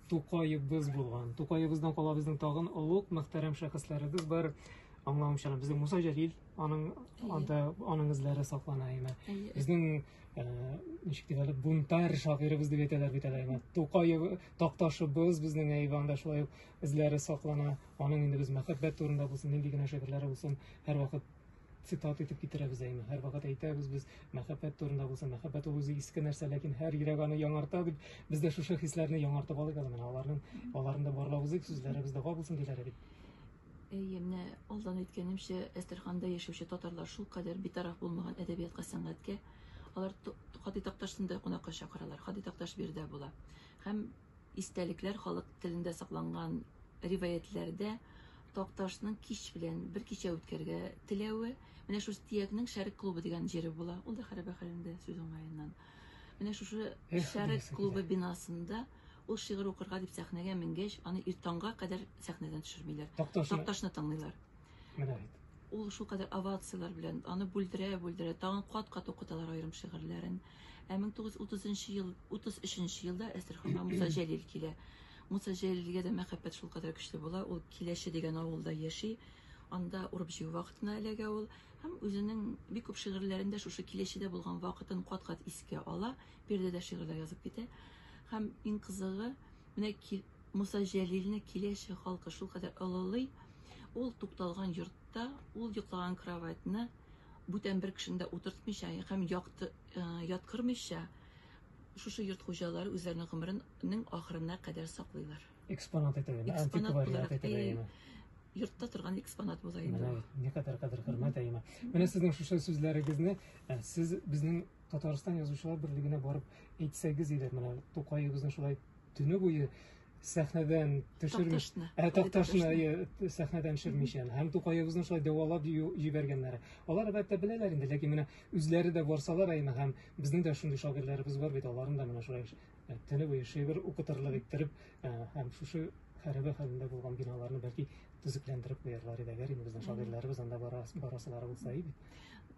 Тукаебыз булган. Тукаебыздан кала безнең тагын олуг, мөхтәрәм шәхесләребез бар. Аңлавымча, безнең Муса Җәлил, аның анда аның эзләре саклана име. Безнең э, ничек дип әле бунтарь шагыйребез дип әйтәләр бит әле име. Тукаев такташыбыз безнең Әйванда шулай ук эзләре саклана. Аның инде без мәхәббәт турында булсын, нинди генә шигырьләре булсын, һәрвакыт цитат итеп китерәбез әйме һәрвакыт әйтәбез без мәхәббәт турында булса мәхәббәт ул үзе иске нәрсә ләкин һәр йөрәк аны яңарта дип без дә шушы хисләрне яңартып алыйк әле менә аларның аларны да барлап узыйк сүзләребез дога булсын диләр бит Әйе, менә алдан әйткәнемчә, Әстерханда яшәүче татарлар шул кадәр битараф булмаган әдәбиятка, сәнгатькә. Алар Хадый Такташны да кунакка чакыралар. Хадый Такташ биредә була. Һәм Истәлекләр халык телендә сакланган риваятьләрдә Такташның кич белән бер кичә үткәрергә теләве, менә шушы Тиякнең Шәрек клубы дигән җире була. Ул да хәрабә хәлендә сүз уңаеннан. Менә шушы Шәрек клубы бинасында ул шигырь укырга дип сәхнәгә менгәч, аны иртанга кадәр сәхнәдән төшермиләр. Такташны тыңлыйлар. Менә бит. Ул шулкадәр овацияләр белән, аны бүлдерә-бүлдерә, тагын кат-кат укыталар аерым шигырьләрен. Ә 1930 ел, 33 елда Әстерханга Муса Җәлил килә. Муса Җәлилгә дә мәхәббәт шулкадәр көчле була, ул Киләче дигән авылда яши, анда урып-җыю вакытына эләгә ул һәм үзенең бик күп шигырьләрен дә шушы Киләчедә булган вакытын кат-кат искә ала, биредә дә шигырьләр язып китә. Һәм иң кызыгы, менә Муса Җәлилне киләчәк халкы шулкадәр олылый, ул тукталган йортта ул йоклаган кроватьны бүтән бер кешене дә утыртмыйча һәм якты, э, яткырмыйча шушы йорт хуҗалары үзләренең гомеренең ахырына кадәр саклыйлар. Экспонат итеп, әмма Экспонат антиквариат буларак, итеп әйе. әйеме? Йортта торган экспонат була инде. Менә ул. бит, никадәр кадер хөрмәт әйеме. Менә сезнең шушы сүзләрегезне ә, сез безнең Татарстан язучылар берлегенә барып әйтсәгез иде, менә Тукаебызны шулай Төне буе сәхнәдән төшерми ә такташны сәхнәдән төшермичә һәм тукаебызны шулай дәвалап җибәргәннәре алар әлбәттә беләләр инде ләкин менә үзләре дә барсалар әйме һәм безнең дә шундый шагыйрьләребез бар бит аларны да менә шулай төне буе шигырь укытырлык иттереп һәм шушы хәрабә хәлендә булган биналарны бәлки төзекләндереп куярлар иде әгәр инде безнең шагыйрьләребез анда барасылары булса иде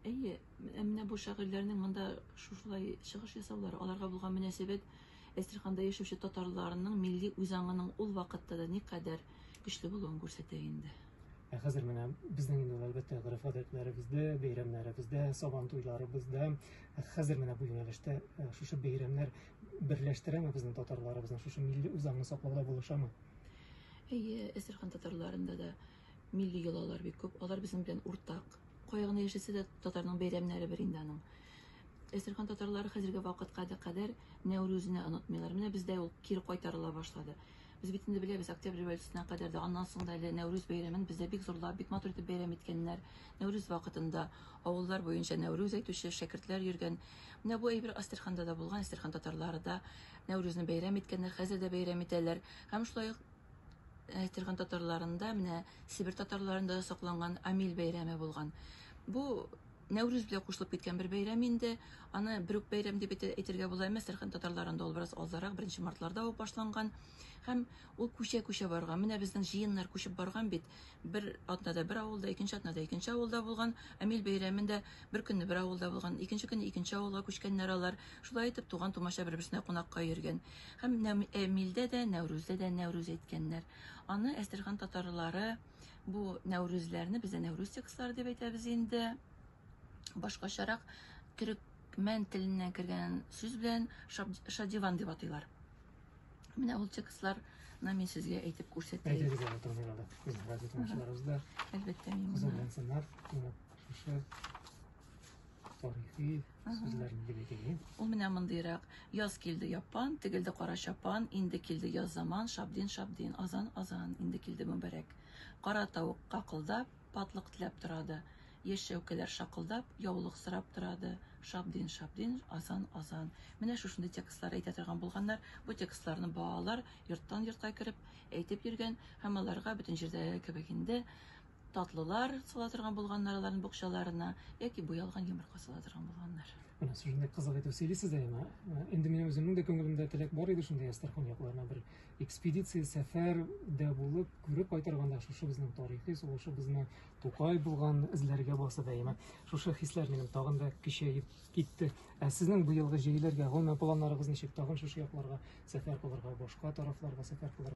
әйе Ә менә бу шагыйрьләрнең монда шушылай чыгыш ясаулары, аларга булган мөнәсәбәт Әстерханда яшәүче татарларның милли үзаңының ул вакытта да никадәр көчле булуын күрсәтә инде. Ә хәзер менә безнең инде әлбәттә гореф-гадәтләребездә, бәйрәмнәребездә, сабан туйларыбызда, ә хәзер менә бу юнәлештә э, шушы бәйрәмнәр берләштерәме безнең татарларыбызны, шушы милли үзаңны саклауда булышамы? Әйе, Әстерхан татарларында да Милли йолалар бик күп, алар безнең белән уртак. Кая гына яшәсә дә, татарның бәйрәмнәре бер инде аның. Әстерхан татарлары хәзерге вакытка да кадәр Нәүрүзне онытмыйлар. Менә бездә ул кире кайтарыла башлады. Без бит инде беләбез, Октябрь революциясенә кадәр дә, аннан соң да әле Нәүрүз бәйрәмен бездә бик зурлап, бик матур итеп бәйрәм иткәннәр. Нәүрүз вакытында авыллар буенча Нәүрүз әйтүче шәкертләр йөргән. Менә бу әйбер Әстерханда да булган, Әстерхан татарлары да Нәүрүзне бәйрәм иткәннәр, хәзер дә бәйрәм итәләр. Һәм шулай ук Әйтерган татарларында, менә Сибир татарларында да сакланган Амил бәйрәме булган. Бу Нәүрүз белән кушылып киткән бер бәйрәм инде. Аны бер үк бәйрәм дип әйтергә була, әмма Сәрхан татарларында ул бераз алдарак, беренче мартларда ук башланган. Һәм ул күчә-күчә барган. Менә безнең җыеннар күчеп барган бит. бер атнада бер авылда, икенче атнада икенче авылда булган, Амил бәйрәмендә бер көнне бер авылда булган, икенче көнне икенче авылга күчкәннәр алар. Шулай итеп, туган тумача бер-берсенә кунакка йөргән. Һәм Амилдә дә, Нәүрүздә дә Нәүрүз әйткәннәр. Аны Әстерхан татарлары бу Нәүрүзләрне бездә Нәүрүз текстлары дип әйтәбез инде. Башкачарак төрекмән теленнән кергән сүз белән шадиван дип атыйлар. Менә ул текстларны мин сезгә әйтеп күрсәтәм. Әйтегез әле турында да. Без газет машиналарыбыз да. Әлбәттә мин. Кызыл лансанар, шушы тарихи сүзләрне билгели. Ул менә мондыйрак. Яз килде япан, тегелде кара чапан, инде килде яз заман, шабдин шабдин, азан азан, инде килде мөбарәк. Кара тавык какылдап, Патлык теләп торады. Яшь чәүкәләр шакылдап, яулык сорап торады. Шабдин, шабдин, азан, азан. Менә шушындый текстлар әйтә торган булганнар. Бу текстларны балалар йорттан йортка кереп әйтеп йөргән һәм аларга бөтен җирдәге кебек инде татлылар сала торган булганнар аларның букчаларына яки буялган йомырка сала торган булганнар. Менә шушындый кызык итеп сөйлисез дә яна. Инде минем үземнең дә күңелемдә теләк бар иде шундый Әстерхан якларына бер Экспедиция сәфәр дә булып, күреп кайтырга да шушы безнең тарихи сулышыбызны, Тукай булган эзләргә баса дәимә. Шушы хисләр минем тагын да көчәеп китте. Ә сезнең быелгы җәйләргә гомумән планнарыгыз ничек? Тагын шушы якларга сәфәр кылырга, башка тарафларга сәфәр кылырга?